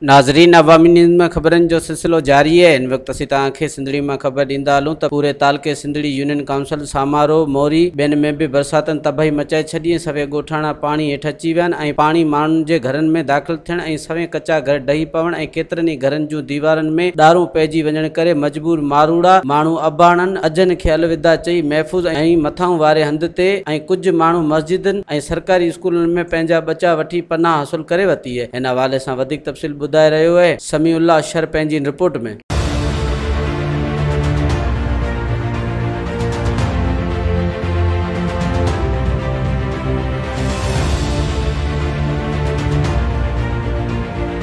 ناظرين عوامي نيوز ۾ خبرن جو سلسلو جاري آهي ان وقت اسين توهان کي سنڌڙي مان خبر ڏيندا هلون ته پوري تعلقي سنڌڙي يونين ڪائونسل سامارو موري ٻين ۾ به برساتن تباهي مچائي ڇڏي ۽ سوين ڳوٺاڻا پاڻي هيٺ اچي ويا آهن ۽ پاڻي ماڻهن جي گهرن ۾ داخل ٿيڻ ۽ سوين ڪچا گهر ڊهي پوڻ ۽ ڪيترن ئي گهرن جون ديوارن ۾ ڏارون پئجي وڃڻ ڪري مجبور ماروئڙا ماڻهو اباڻن اجهن کي الوداع چئي محفوظ ۽ مٿانهون واري هنڌ تي ۽ ڪجهه ماڻهو مسجدن ۽ سرڪاري اسڪولن ۾ پنهنجا ٻچا وٺي پناهه حاصل ڪري ورتي اهي هن حوالي سان وڌيڪ تفصيل ٻڌائي رهيو اهي سميع الله شر پنهنجي ان رپورٽ ۾.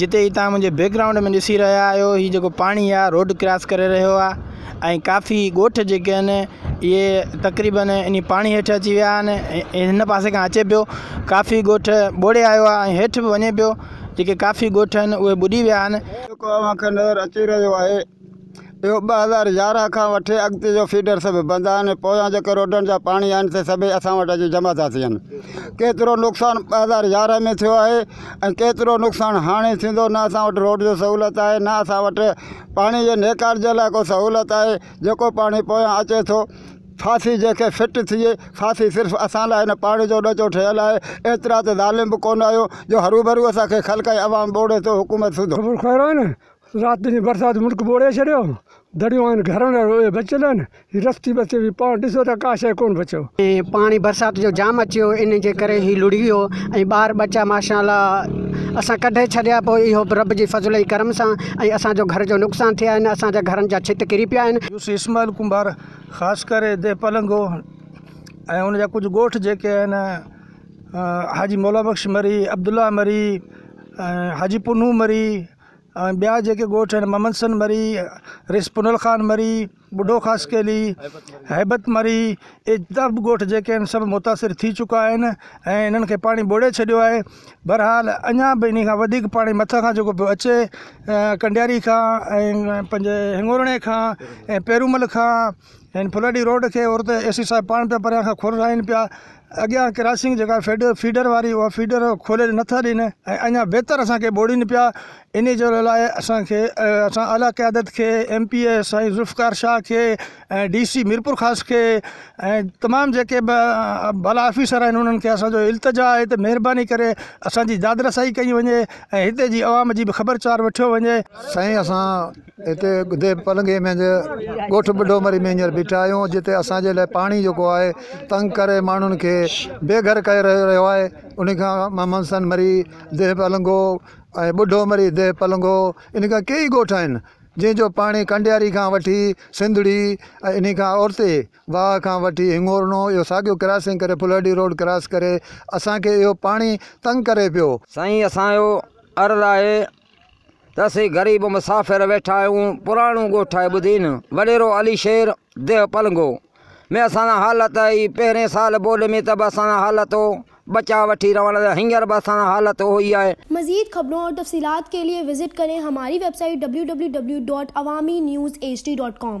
جتي هي توهان منهنجي بيڪ گرائونڊ ۾ ڏسي رهيا آهيو هي جيڪو پاڻي آهي روڊ ڪراس ڪري رهيو آهي ۽ ڪافي ڳوٺ جيڪي آهن اهي تقريبن ان پاڻي هيٺ اچي ويا آهن هن پاسي کان اچي پيو ڪافي ڳوٺ ٻوڙي آيو آهي ۽ هيٺ به وڃي پيو جيڪي ڪافي ڳوٺ آهن اهي ٻڏي ويا آهن جيڪو اوهان کي نظر اچي رهيو آهي اهو ٻه هزار يارهن کان وٺي اڳتي جو فيڊر سڀ بند آهن ۽ پويان جيڪي روڊن جا پاڻي آهن سي سڀئي اسان وٽ اچي جمع ٿا ٿين ڪيترو نقصان ٻه هزار يارهن ۾ ٿيو آهي ۽ ڪيترو نقصان هاڻي ٿيندو نه اسان وٽ روڊ جو سهولت آهي نه اسان وٽ پاڻي جي نيڪال جي لاء ڪو سهولت آهي جيڪو پاڻي پويان اچي ٿو ڦاسي جيڪي فٽ ٿئي ڦاسي صرف اسان لاء هن پاڻي جو ڏچو ٺهيل آهي ايترا ته ظالم به ڪونه آهيو جو هروڀرو اسان کي خلق ۽ عوام ٻوڙي ٿو حڪومت سڌو. رات جي برسات ملڪ ٻوڙي ڇڏيو. دريون آهن گهرن ۽ روئي بچيل آهن. هي رستي بستي هئي، پاڻ ڏسو ته ڪا شيء ڪونه بچيو. پاڻي برسات جو جام اچي ويو، ان جي ڪري هي لڙهي ويو ۽ ٻار ٻچا ماشاء الله اسان ڪڍي ڇڏيا. پوء اهو به رب جي فضل ۽ ڪرم سان ۽ اسان جو گهر جو نقصان ٿئي آهن. اسان جا گهرن جا ڇت ڪري پيا آهن. يوسف اسماعيل ڪنڀار خاص ڪري ديهه پلنگو ۽ ان جا ڪجهه ڳوٺ جيڪي آهن حاجي مولا بخش مري، عبدالله مري ۽ حاجي پنهون مري، ۽ ٻيا جيڪي ڳوٺ آهن محمدسن مري، ريس پنهل خان مري، ٻڍو خاصخيلي، هيبت مري اهي جتان به ڳوٺ جيڪي آهن سڀ متاثر ٿي چڪا آهن ۽ انهن کي پاڻي ٻوڙي ڇڏيو آهي بهرحال اڃا به انهي کان وڌيڪ پاڻي مٿان کان جيڪو پيو اچي ڪنڊياري کان ۽ پنهنجي هڱورڻي کان ۽ پيرومل کان هن ڦلڙي روڊ کي عورت اي سي صاحب پاڻ پيا پريان کان کولرائين پيا اڳيان ڪراسنگ جيڪا فيڊ فيڊر واري اها فيڊر کولي نٿا ڏين ۽ اڃا بهتر اسان کي ٻوڙين پيا انهي جو لاء اسان کي اسان اعليٰ قيادت کي ايم پي اي سائين ذوالفقار شاهه کي ۽ ڊي سي ميرپور خاص کي ۽ تمام جيڪي به بالا آفيسر آهن انهن کي اسان جو التجا آهي ته مهرباني ڪري اسان جي داد رسائي ڪئي وڃي ۽ هتي جي عوام جي به خبر چار وٺيو وڃي سائين اسان هتي ڳڌي پلنگي منجهه ڳوٺ ٻڍو مري ۾ هينئر بيٺا آهيون جتي اسان جي لاء پاڻي جيڪو آهي تنگ ڪري ماڻهن کي بي گهر ڪري رهيو آهي ان کان محمد حسن مري ديهه پلنگو ۽ ٻڍو مري ديهه پلنگو ان کان ڪيئي ڳوٺ آهن جنهن جو پاڻي ڪنڊياري کان وٺي سنڌڙي ۽ ان کان اورتي واهه کان وٺي هڱورنو اهو ساڳيو ڪراسنگ ڪري ڦلهڙي روڊ ڪراس ڪري اسان کي اهو پاڻي تنگ ڪري پيو. سائين اسان جو عرض آهي ته اسين غريب مسافر ويٺا آهيون پراڻو ڳوٺ آهي ٻڌين وڏيرو علي شير ديهه پلنگو ۾ اسان سان حالت اهي پهرين سال ٻوڏ ۾ ته به اسان سان حالت هو بچا وٺي روانڙ ته هينئر به اسان سان حالت اهو ئي آهي. مزيد خبرون اور تفصيلات کے لئے وزٽ ڪرين ھماري ويب سائيٽ www.awaminews.hd.com.